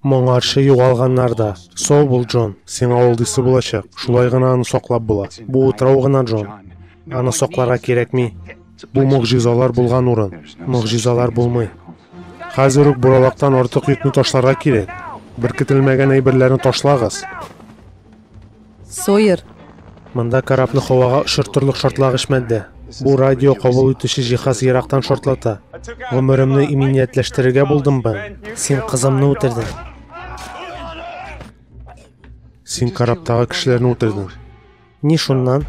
Моңарчы югалганнар да. Сау бул, Джон. Сиңа ул дисе булачак. Шулай гына аны саклап була. Бу утрау гына, Джон. Аны сакларга кирәкми. Бу могҗизалар булган урын. Могҗизалар булмый. Хәзер үк буралактан артык йөкне ташларга кирәк. Беркетелмәгән әйберләрне ташлагыз. Сойер. Монда корабны һавага очыртырлык шартлагыч мәддә. Бу радио кабул итүче җиһаз ерактан шартлата. Гомеремне иминиятләштерергә булдым бын. Син кызымны үтердең. Син корабтагы кешеләрне үтердең. Ни шуннан?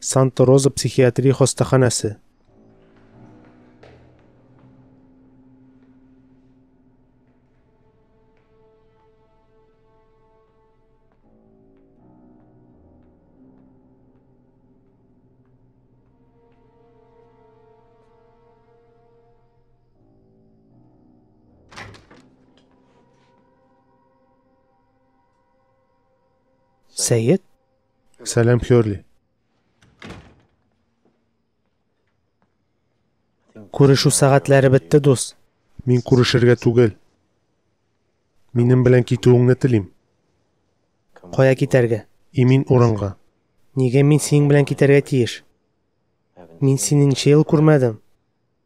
Санта Роза психиатрия хастаханәсе. Сәет? Сәлам, Хёрли. Күрешу сәгатьләре бетте, дус. Мин күрешергә түгел. Минем белән китүеңне телим. Кая китәргә? Имин урынга. Нигә мин синең белән китәргә тиеш? Мин сине ничә ел күрмәдем?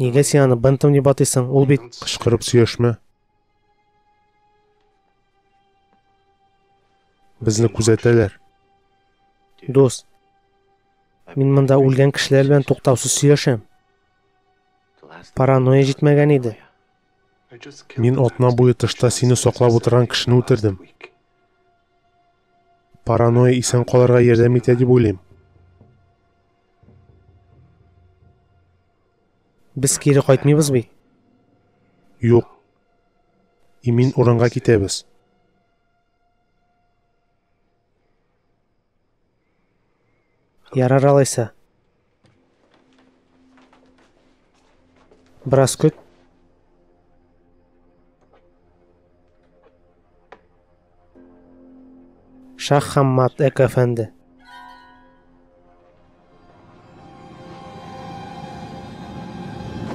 Нигә син аны бынтым дип атыйсың? Ул бит кычкырып сөйләшмә. Безне күзәтәләр. Дус, мин монда үлгән кешеләр белән туктаусыз сөйләшәм. Паранойя җитмәгән иде. Мин атна буе тышта сине саклап утырган кешене үтердем. Паранойя исән калырга ярдәм итә дип уйлыйм. Без кире кайтмыйбыз бит. Юк. Имин урынга китәбез. Ярар алайса. Бераз көт. Шах Хаммат Эк әфәнде.